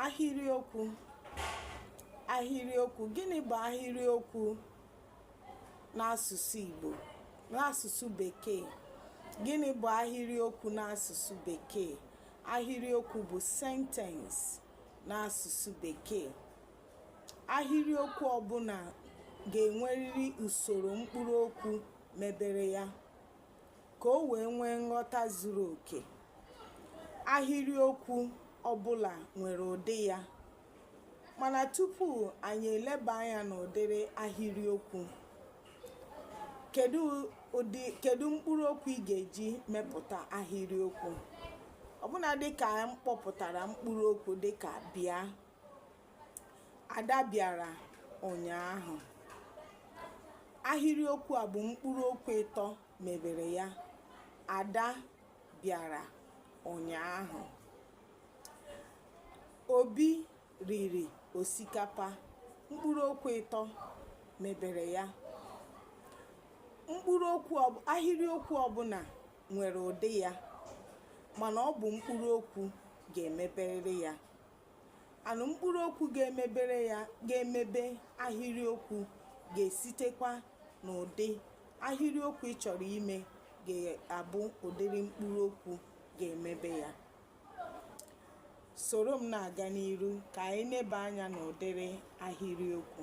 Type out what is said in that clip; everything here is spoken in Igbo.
ahịrịokwu ahịrịokwu gịnị bụ ahịrịokwu n'asụsụ Igbo n'asụsụ bekee gịnị bụ ahịrịokwu n'asụsụ bekee ahịrịokwu bụ sentence n'asụsụ bekee ahịrịokwu ọbụla ga-enwerịrị usoro mkpụrụ okwu mebere ya ka o wee nwee nghọta zuru oke. Ahịrịokwu ọ bụla nwere ụdị ya, mana tupu anyị eleba anya n'ụdịrị ahịrịokwu, kedu mkpụrụ okwu ị ga-eji mepụta ahịrịokwu ọbụla? Dịka m kpọpụtara mkpụrụ okwu dịka bịa, Ada bịara ụnyaahụ. Ahịrịokwu a bụ mkpụrụ okwu ịtọ mebere ya. Ada bịara ụnyaahụ. Obi riri osikapa. Mkpụrụ okwu ịtọ mebere ya. Ahịrịokwu ọbụla nwere ụdị ya mana ọ bụ mkpụrụ okwu ga-emebere ya. anụ mkpụrụ okwu ga-emebere ya ga-emebe ahịrịokwu ga-esitekwa n'ụdị ahịrịokwu ị chọrọ ime ga-abụ ụdịrị mkpụrụ okwu ga-emebe ya soro m na-aga n'iru ka anyị neba anya n'ụdịrị ahịrịokwu